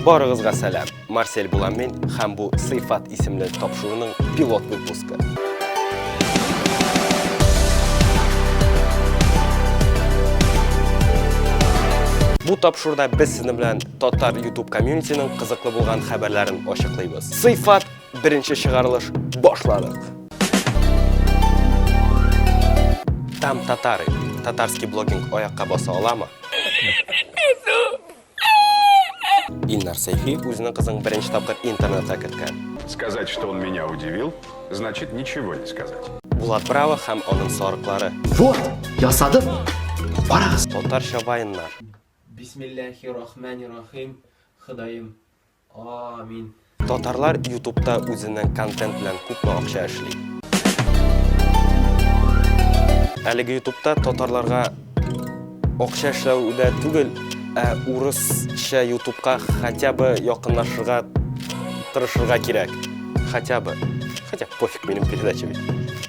Барыгызга сәлам! Марсель булам мин һәм бу Сыйфат исемле тапшыруның пилот выпускы. Бу тапшыруда без сезнең белән татар YouTube комьюнитиның кызыклы булган хәбәрләрен ачыклыйбыз. Сыйфат беренче чыгарылыш башладык. Там татары, татарский блогинг аякка баса аламы? Иннар Сәйфи үзенең кызын беренче тапкыр интернетта керткән. Сказать, что он меня удивил, значит ничего не сказать. Булат Браво һәм аның сарыклары. Вот, ясадым. Карагыз. Татарча вайннар. Бисмиллахи рахмани рахим, Ходаем. Амин. Татарлар ютубта үзенең контент белән күпме акча эшли? Әлеге ютубта татарларга акча эшләү дә түгел, ә урысча ютубка хотя бы якынлашырга тырышырга кирәк. Хотя бы. Хотя пофиг минем передача бит.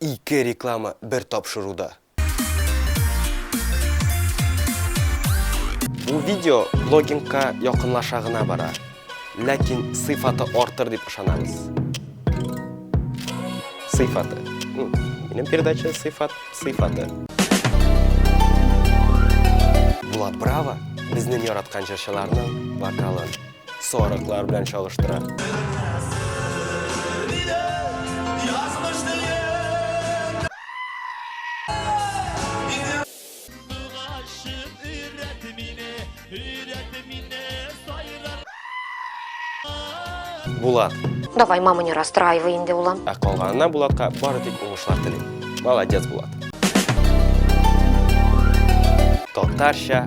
Ике реклама бер тапшыруда! Бу видео блогингка якынлаша гына бара, ләкин сыйфаты артыр дип ышанабыз. Сыйфаты. Минем передача сыйфат, сыйфаты. Булат Браво безнең яраткан җырчыларның вокалын Сарыклар белән чагыштыра. Булат. Давай, мама, не расстраивай инде, улым. Ә калганына Булатка бары тик уңышлар телим. Молодец, Булат. Татарча